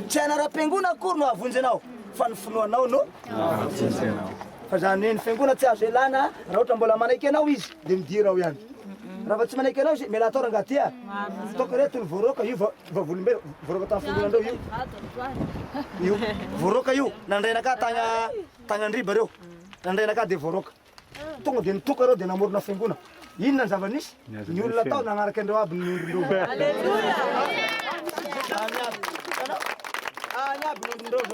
Tsy anareo mpengona akory no avonjy anao fa ny finoanao no avonjy anao. Fa zany hoe ny fiangona tsy azo elana raha ohatra mbola manaiky anao izy de midira ao ihany. Raha vao tsy manaiky anao izy mialà tao rangah ty a. Ataoko reto ny voaroaka io vavolombelona voaroaka tany fiangona ndreo io. Io voaroaka io nandray anakah tagna tagna andriba reo nandray anakah de voaroaka. Tonga dia nitoka ireo dia namorona fiangona. Inona ny zava-nisy? Ny olona tao nanaraka an'ireo aby ny ondrin-doza.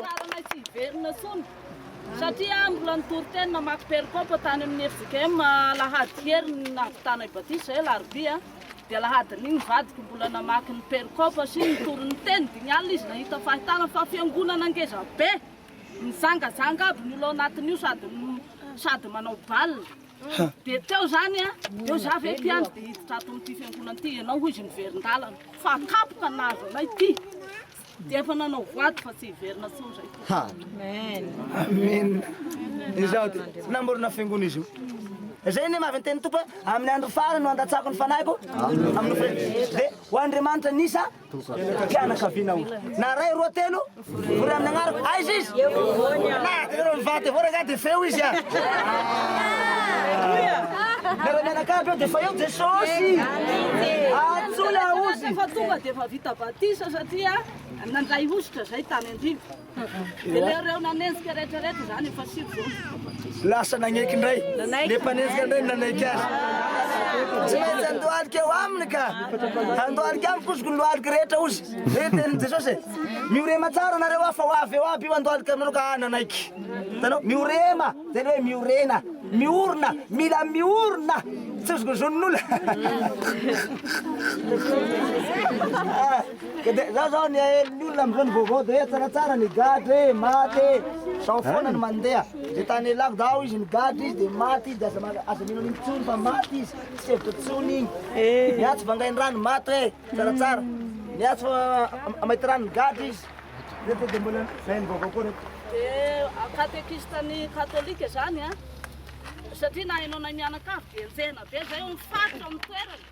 Tsaranay tsy hiverina intsony satria mbola nitory teny namaky perikopa tany amin'ny FJKM alahady heriny nahavitanay batisa izay alarobia dia alahadin'iny ny vadiko mbola namaky ny perikopa sy nitory ny teny dimy alina izy nahita fahitana fa fiangonana ngeza be Mizangazanga aby ny olona ao anatiny io sady sady manao bal dia teo zany a eo za ve mpiandry dia hiditra ato amin'ity fiangonana ity ianao hoy izy miverin-dalana fa kapoka nahazo anay ity dia efa nanao voady fa tsy hiverina intsony zay ha amen amen izaho dia tsy namorona fiangonana izy io Izay ny mavy teny tompo amin'ny andro farany no andatsako ny fanahiko amin'ny fre. Dia ho Andriamanitra nisa Mpianakaviana aho. Na ray roa telo, vory amin'ny agnarako. Aiza izy? Eo afovoany aho. Na ianareo mivady avao rangahy dia feo izy an! Ianareo mianakavy eo dia efa eo Jesosy! Antsoy aho ozy! Fa tonga dia efa vita batisa satria nandray hosotra izay tany an-drivo. Lasa nagneky indray, le mpanenjika indray no nanaiky azy. Tsy maintsy handohalika eo aminy ka, handohalika amiko ozy ny lohalika rehetra ozy. Zay ny tenin'i Jesosy e. Miorema tsara nareo aho fa ho avy eo aby io handohalika aminareo ka ahy nanaiky. Hitanao? Miorema, zay le hoe miorena, miorina, mila miorina, tsy ozy ny zon'olona. Za zao nihaelo ny olona amzao ny vaovao de tsaratsara ny gadra e maty e zao foana ny mandeha de tany ialako dao izy ny gadra izy de maty izy de aza aza mino an'iny tsony fa maty izy tsy hevitra tsony iny ny atsy vangaindrano maty hoe tsaratsara ny atsy amaitirano ny gadra izy reto de mbola zay ny vaovao koa reto de katekista ny katolika zany a satria na ianao na ny mianakavy de enjehina be zay o mifaritra amin'ny toerana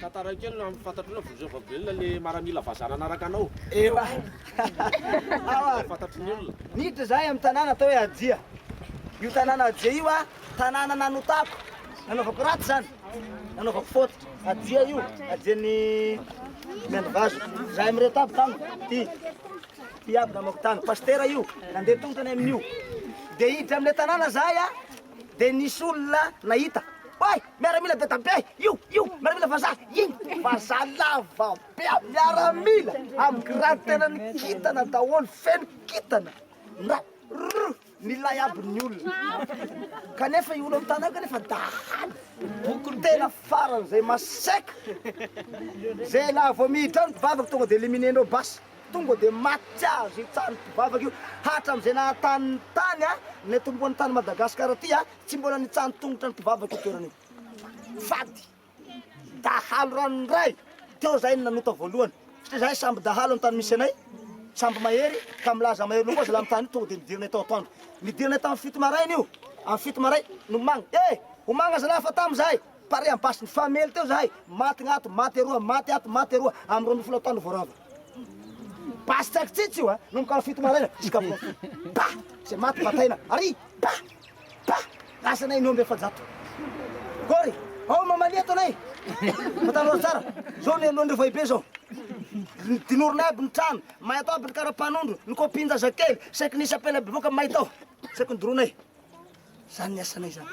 Tantara kely no fantatrao na Volosoa Vavolombelona le maramila vazaha nanaraka anao. Ewa. Awa. Fantatry ny olona. Niditra zahay amin'ny tanàna atao hoe Ajia. Io tanàna Ajia io a, tanàna nanotako, nanaovako ratsy zany, nanaovako faute. Ajia io, Ajian'ny Miandrivazo. Zahay mireto aby tany, ty, ty aby namako tany. Pasitera io, nandeha tongotra any amin'io. Dia hiditra amin'ilay tanàna zahay a, dia nisy olona nahita. Oay! Miaramila dadabe io io miaramila vazaha iny vazaha lava be aby miaramila am grade tena ny kintana daholo feno kintana na rr milay aby ny olona kanefa io olona mitana io kanefa dahalo boko tena farany zay maseka zay la vao miditra any mpivavaka tonga de elimine ndreo basy tonga de maty azy itsany mpivavaka io hatramizay nahatany ny tany a ny tomboany tany Madagascar ty a Tsy mbola nitsahan-tongotra ny mpivavaka io toerana io. Fady. Dahalo ranondray. Teo zahay no nanota voalohany. Satria zahay sambo dahalo ny tany misy anay. Sambo mahery ka milaza mahery loha koa zalahy mitany io. Tonga dia nidiranay tao atoandro. Nidiranay tamin'ny fito maraina io. Amin'ny fito maraina, nomagna. Eh! Homagna zalahy fa tamy zahay. Pare amin'ny basy. Nifamely teo zahay. Maty gna ato, maty eroa, maty ato, maty eroa. Amin'ny roa ambin'ny folo atoandro vao rava. Basy tsakitsitsy io a! Nomboka amin'ny fito maraina, zisk'amin'ny roa ambin'ny folo. Ba! Zay maty bataina. Ary! Ba! Bah! Lasa anay ny omby efajato. Gory, ao mamalia eto anay. Fantaro azy tsara, zao ny alohan'ireo foibe zao. Dinorinay aby ny trano, may atao aby ny karapanondro, ny kopin-jazakely, saiky nisy apela bevoka may tao. Saiky nodoroinay. Zany ny asanay zany.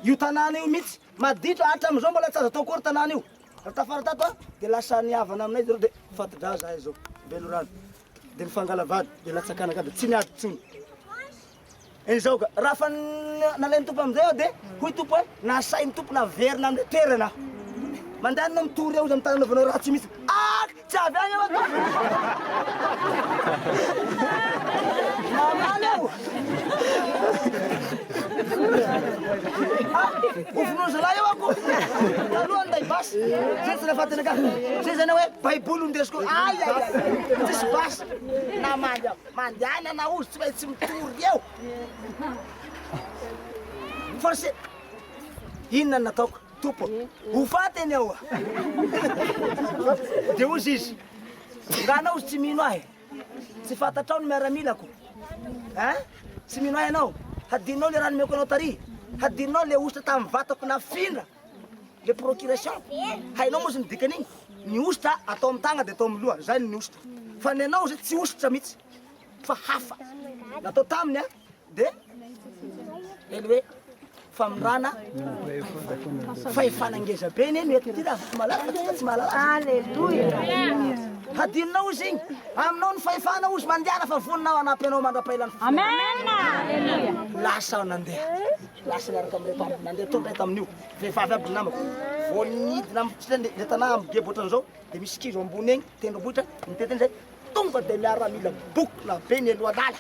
Io tanàna io mihitsy, maditra, hatramizao mbola tsy azo atao akory tanàna io. Raha tafara tato an, dia lasa nihavana aminay zareo dia fati-dra zahay zao, Belorano. Dia nifangala vady, dia natsakana angamba, tsy niady intsony. Izao ka, raha fa nalain'ny Tompo amin'izay aho, dia hoy Tompo hoe, Nasain'ny Tompo naverina amin'ilay toerana aho. Mandany na mitory eo izy amin'ny tany anaovanao ratsy io mihitsy. Ak! Tsy avy any aho ato! Mamaly aho! Hovonoin'ny zalahy eo ako! Taloha ny basy, izay tsy nahafaty anakah. Izay izany hoe Baiboly no ndesiko. Ay, ay, ay! Tsisy basy. Namaly aho. Mandehana na ory tsy maintsy mitory eo. Force. Inona no nataoko? Tompo, ho faty ianao a! Dia hozy izy, Nga anao tsy mino ahy? Tsy fantatrao ny miaramilako? Hein? Tsy mino ahy ianao? Hadinonao ilay rà nomeko anao tary? Hadinonao ilay hosotra tamin'ny vatako nafindra? Le procuration, hainao moa izy ny dikan'igny, ny hosotra atao amin'ny tagna de atao amin'ny loha, zay ny hosotra. Fa ny anao izy tsy hosotra mihitsy, fa hafa. Natao taminy an, de le hoe famindrana fahefana ngeza be ny eny eto ty raha tsy mahalala fa tsy mahalala. Alléluia. Hadinonao izy igny, aminao ny fahefana ozy mandiana fa vonona aho hanampy anao mandra-pahelany. Amen. Lasa aho nandeha. Lasa niaraka amin'ireo mpamily nandeha tonga izy tamin'io. Vehivavy aby ny namako. Vao nidina amintsika ny le tanà amin'ny gebo ohatran'izao dia misy kizo ambony egny, tendrombohitra, nitety an'izay. Tonga dia miaramila bokona be nialoha lala.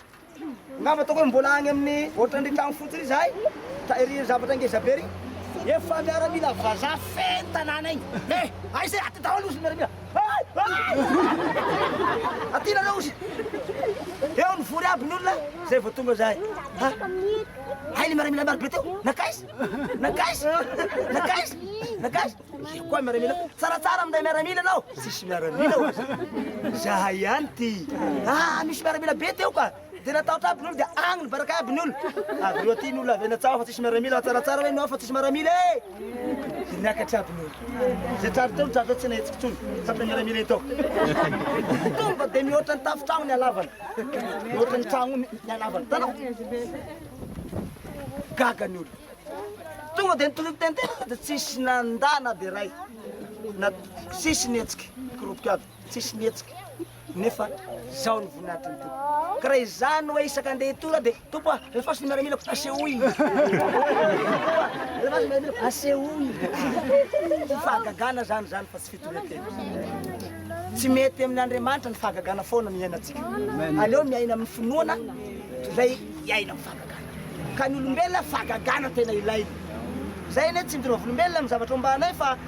Angamba ataoko hoe mbola agny amin'ny ohatran'ny tragno fotsiny izahay, ta ery zavatra ngeza be ery. Efa miaramila vazaha feno tanàna egny. Eh! Aiza e? Aty daholo ozy ny miaramila. Aty nareo ozy! Eo nivory aby ny olona zay vao tonga zahay. Ha? Hay le miaramila maro be teo. Nankaiza? Nankaiza? Nankaiza? Nankaiza? Io koa miaramila. Tsaratsara minday miaramila anao. Tsisy miaramila ozy. Zahay ihany ty. Ah, misy miaramila be teo ka. Dia natahotra aby ny olo dia agny nibaraka aby ny olo. Avy eo aty ny olo avy any an-tsaha ao fa tsisy miaramila, tsaratsara hoe ny ao fa tsisy miaramila e! Dia niakatra aby ny olo. Izay tratra teo no tratra tsy nahetsika intsony, tratry ny miaramila eto. Tonga dia mihoatra ny tafon-tragno ny halavany, mihoatra ny tragno ny halavany. Hitanao? Gaga ny olo. Tonga dia nitohy niteny tena fa dia tsisy nandà na dia iray, na tsisy nihetsika, koropoka aby. tsisy mihetsika nefa zao ny voninahitry ny Tompo. Ka raha izany hoe isaka andeha hitory aho dia Tompo a, alefaso ny miaramilako, asehoy. Alefaso ny miaramilako, asehoy. Tsy fahagagana zany zany fa tsy fitorian-tena. Tsy mety amin'Andriamanitra ny fahagagana foana no iainantsika. Aleo miaina amin'ny finoana toy izay hiaina amin'ny fahagagana. Ka ny olombelona fahagagana tena ilainy. Zay anie tsy midoroha volombelona amin'ny zavatra ombanay fa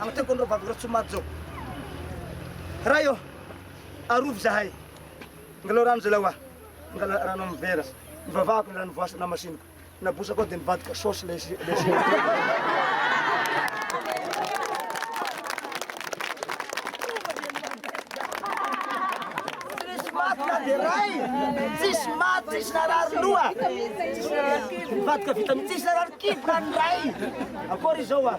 Agnatreako anareo vavy Ratsomajao. Ray ô, arovy zahay. Angalaho rano zalahy hoa. Angalaho rano amin'ny vera. Nivavahako ny rano voasy namasiniko. Nabosako ao dia nivadika saosy ilay Tsisy maty, tsisy narary loha. Nivadika vitamine, tsisy narary kibo raha ny ray. Akory izao hoa.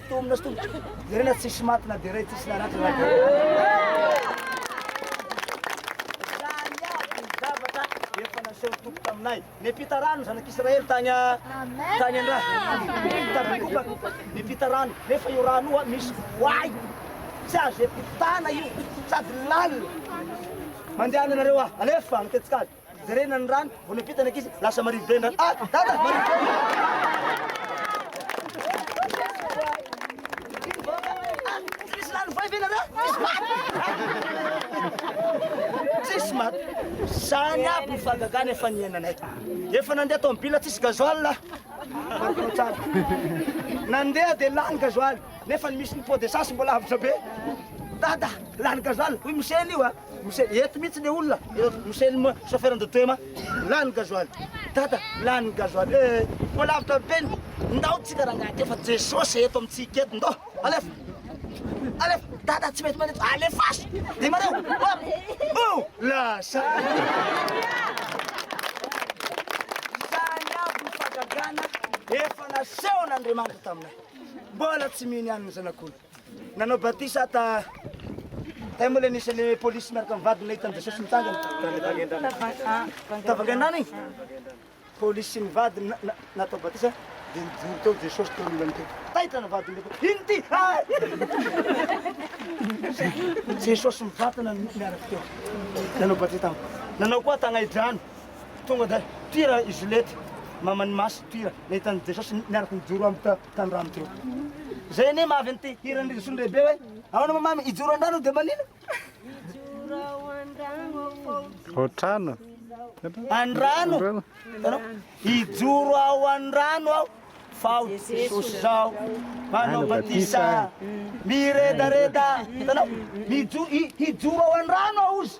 Tomina sy tomboka. Jerena tsisy maty na dia iray tsisy naratra na dia Izany avy ny zavatra efa naseho Tompo taminay. Niampita rano ny zanak'Israely tany tany an-drà. Tampitokana. Niampita rano. Nefa io rano io misy voay. Tsy azo iampitana io. Sady lalina. Mandehana ianareo a! Alefa agny an-tetsikady. Jerena ny rano, vao niampita ny ankizy, lasa marivo be ny rano. Ah, dada, marivo be ny Tsisy maty. Zany aby ny fahagagana efa niainanay. Efa nandeha tomobila tsisy gasoil. Nandeha dia lany gasoil. Nefa ny misy ny pot d'essence mbola avotra be. Dada, lany gasoil. Hoy misy eny io ah. Michel, eto mihitsy le olona, Michel moa chauffeur de Toema, lany gasoil, Dada lany gasoil eh, koa lavitra be ny, ndao tsika rangahy kely fa Jesosy eto amintsika eto, ndao, alefa, alefa, Dada tsy mety mandeha, alefaso, demareo, hop, oh, lasa. Izany aby ny fagagana efa nasehon'Andriamanitra taminay, mbola tsy mino ihany ny zanak'olona. Nanao batisa ta Tay moa le nisy le polisy miaraka amin'ny vadiny nahita an'i Jesosy mitsangana. Tavangendrana igny. Polisy sy ny vadiny na- na- natao batisa dia nijoro teo Jesosy teo amin'ny ilany teo. Taitra ny vadiny hoe, ino ty? Ah! Jesosy mivantana ny miaraka teo. Nanao batisa tany. Nanao koa tagnaidrano. Tonga dia toira i Zolety, maman'i Masy toira, nahita an'i Jesosy miaraka nijoro amin'ny ta- tanorano teo. Zay anie mahavy an'ity hiran'i Risondraibe hoe ahoana moa mamy ijoro an-drano dia manina? Otrano. An-drano. Ijoro ao an-drano aho fa ho Jesosy zao manao batisa miredareda. Hitanao? Mijoro hijoro ao an-drano aho ozy.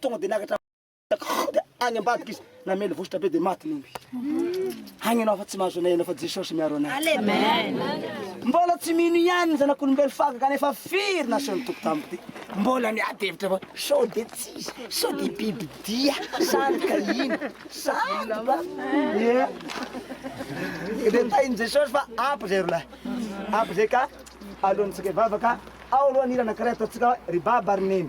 Tonga dia niakatra am-pony dia any ambadika izy, namely vositra be dia maty ny omby. Any ianao fa tsy mahazo anay ianao fa Jesosy miaro anay. Mbola tsy mino ihany ny zanak'olombelo fa gaga nefa firy nasehon'ny Tompo tamiko dia mbola miady hevitra fa sao dia tsy izy, sao dia biby dia, sary ka iny, sary ba, yeah. Dia tahin'i Jesosy fa ampy izay rolahy, ampy izay ka alohantsika hivavaka, ao aloha ny hira anankiray ataontsika hoe ry Baba ry Neny.